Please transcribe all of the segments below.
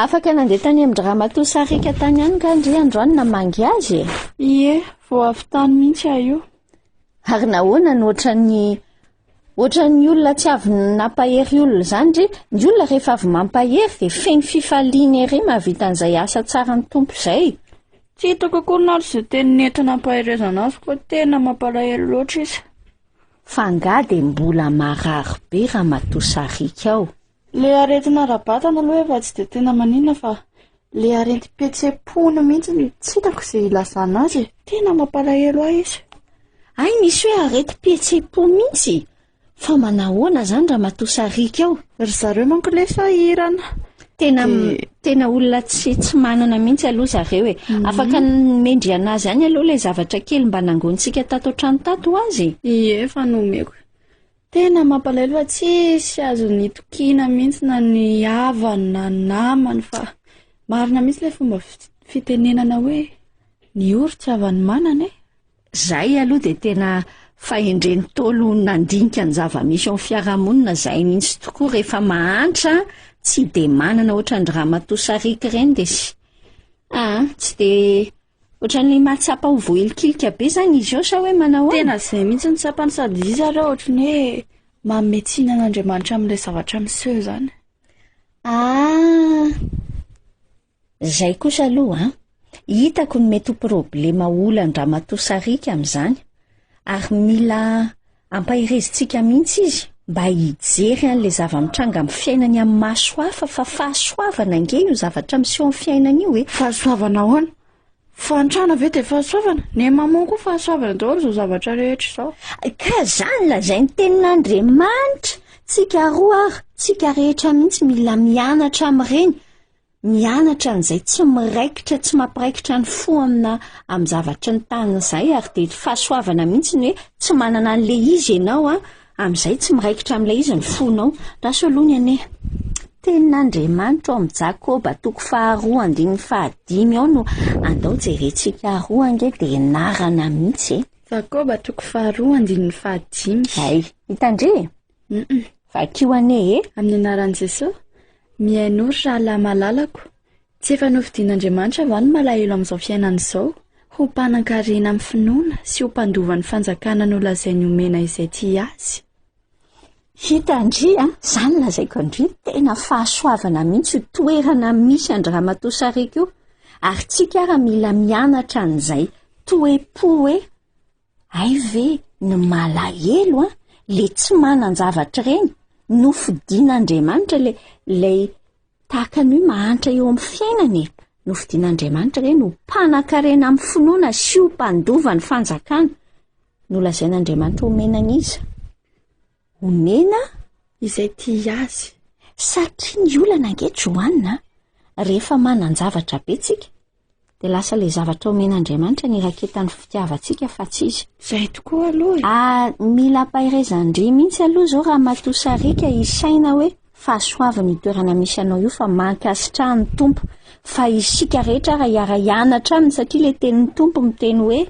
Afaka nandeha tany amin-dry ramatoa Sarika tany ihany nga ndry androany namangy azy e? Ie, vao avy tany mihitsy aho io. Ary nahoana no ohatran'ny ohatran'ny olona tsy avy nampahery olona izany ndry? Ny olona rehefa avy mampahery dia feno fifaliana ery mahavita an'izay asa tsaran'ny Tompo izay. Tsy hitako akory na ary izay teny nentinam-paherezana azy fa tena mampalahelo loatra izy. Fa nga dia mbola marary be ramatoa Sarika ao? Le aretina ara-batana aloha efa tsy dia tena maninona fa le aretim-pihetsem-pony mihitsy no tsy hitako izay ilazana azy e! Tena mampalahelo ahy izy. Hay misy hoe aretim-pihetsem-po mihitsy? Fa manahoana izany ramatoa sariaka ao? Ry zareo manko le sahirana. Tena tena olona tsy tsy manana mihitsy aloha zareo e. Mhm. Afaka mendry an'azy any aloha le zavatra kely mba nangonintsika tato an-trano tato ho azy. Ie, efa nomeko. Tena mampalahelo fa tsisy azony itokiana mihitsy na ny havany na ny namany fa marina mihitsy ilay fomba fitenenana hoe ny ory tsy havan'ny manana e! Zay aloha dia tena fahendren'ny Ntaolo ho nandinika ny zava-misy eo amin'ny fiarahamonina zay mihitsy tokoa rehefa mahantra tsy dia manana ohatran'ny dry ramatoa sariaka ireny dia sy, aa, tsy dia Ohatran'ny mahatsapa ho voahilikilika be zany izy eo sa hoe manao ahoana? Tena izay mihitsy no tsapany sady izy ary ohatry ny hoe manome tsiny an'Andriamanitra amin'ilay zavatra miseho izany. Ah! Izay kosa aloha an! Hitako ny mety ho problema olan'Ramatoa Sarika amin'izany, ary mila Ampaherezintsika mihitsy izy mba hijery an'ilay zava-mitranga amin'ny fiainany amin'ny maso hafa fa fahasoavana ange io zavatra miseho amin'ny fiainany io e! Fahasoavana ahoana? Fahantrana ve dia fahasoavana? Ny maman koa fahasoavana daholo izao zavatra rehetra izao. Ka izany lazain'ny tenin'Andriamanitra, tsika roa ary tsika rehetra mihitsy mila mianatra amin'ireny mianatra an'izay tsy miraikitra tsy mampiraikitra ny fo amina amin'ny zavatry ny tany izay ary dia fahasoavana mihitsy ny hoe tsy manana an'ilay izy ianao a amin'izay tsy miraikitra amin'ilay izy ny fonao raso aloha ny anie tenin'andriamanitra ao amin'ny jakoba toko faharoa andininy fahadimy ao no andao jerentsika aroa ange dia narana mihitsy e jakoba toko faharoa andininy fahadimy ay hitandre Humm. Vakio anie e! Amin'ny anaran'i Jesoa, mihainoa ry rahalahy malalako, tsy efa nofidin'Andriamanitra va ny malahelo amin'izao fiainana izao ho mpanan-karena amin'ny finoana sy ho mpandova ny fanjakana nolazainy homena izay tia azy? Hita an-dry an, izany lazaiko an-dry, tena fahasoavana mihitsy io toerana misy an-dry ramatoa sariaka io, ary tsika ara mila mianatra an'izay toe-po hoe, Hay ve ny malahelo an, le tsy manan-javatra ireny, nofidin'Andriamanitra le lay tahaka ny hoe mahantra eo amin'ny fiainana e. Nofidin'Andriamanitra ireny ho mpanakarena amin'ny finoana sy ho mpandova ny fanjakana. Nolazain'Andriamanitra homena an'iza? Homena izay tia azy. Satria ny olana ange Joanna, rehefa manan-javatra be tsika, dia lasa ilay zavatra omen'Andriamanitra ny raketan'ny fitiavantsika fa tsy izy. Izay tokoa aloha e! Ary mila ampaherezan-dry mihitsy aloha izao Ramatoa Sariaka hisaina hoe fahasoavana io toerana misy anao io fa mankasitraha ny Tompo fa isika rehetra ary hiara-hianatra aminy satria ilay tenin'ny Tompo miteny hoe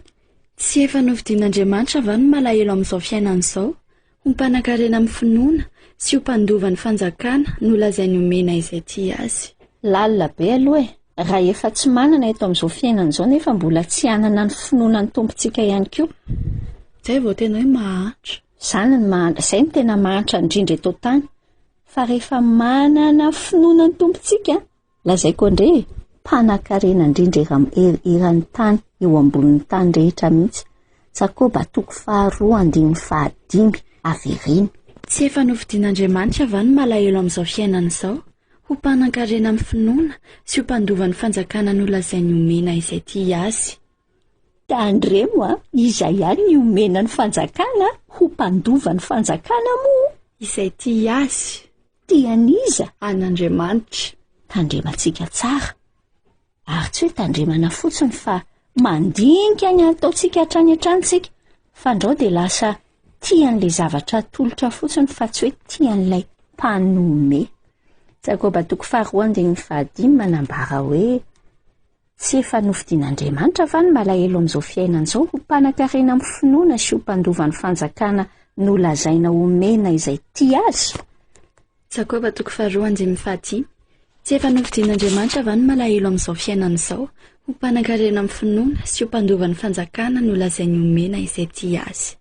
Tsy efa nofidian'Andriamanitra va ny malahelo amin'izao fiainana izao? Ho mpanan-karena amin'ny finoana sy ho mpandova ny fanjakana no lazainy omena izay tia azy. Lalina be aloha e! Raha efa tsy manana eto amin'izao fiainana izao nefa mbola tsy hanana ny finoana ny Tompontsika ihany koa. Izay vao tena hoe mahantra. Izany no mahantra, izay no tena mahantra indrindra eto an-tany. Fa rehefa manana finoana ny Tompontsika, Lazaiko andre e! Mpanakarena indrindra eram er eran'ny tany eo ambonin'ny tany rehetra mihitsy. Jakoba toko faharoa andininy fahadimy, avereno. Tsy efa nofidin'Andriamanitra va ny malahelo amin'izao fiainana izao ho mpanankarena amin'ny finoana sy ho mpandova ny fanjakana nolazainy homena izay tia Azy? Tandremo a, iza ihany ny omena ny fanjakana ho mpandova ny fanjakana moa? Izay tia azy. Tian'iza? An'Andriamanitra. Tandrema antsika tsara, ary tsy hoe tandremana fotsiny fa mandinika ny ataontsika hatrany hatrany tsika, fandrao dia lasa tian'ilay zavatra atolotra fotsiny fa tsy hoe tian'ilay mpanome. Jakoba toko faharoa andininy fahadimy manambara hoe, Tsy efa nofidin'Andriamanitra va ny malahelo amin'izao fiainana izao ho mpanankarena amin'ny finoana sy ho mpandova ny fanjakana nolazaina homena izay tia azy? Jakoba toko faharoa andininy fahadimy Tsy efa nofidin'Andriamanitra va ny malahelo amin'izao fiainana izao ho mpanankarena amin'ny finoana sy ho mpandova ny fanjakana nolazainy homena izay tia azy?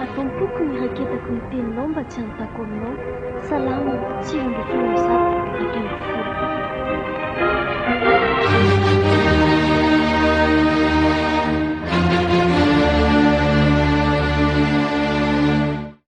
Ato am-poko ny raketako ny teninao mba tsy hanontako aminao. Salama, sivy ambin'ny folo ny zato ato amin'ny folo.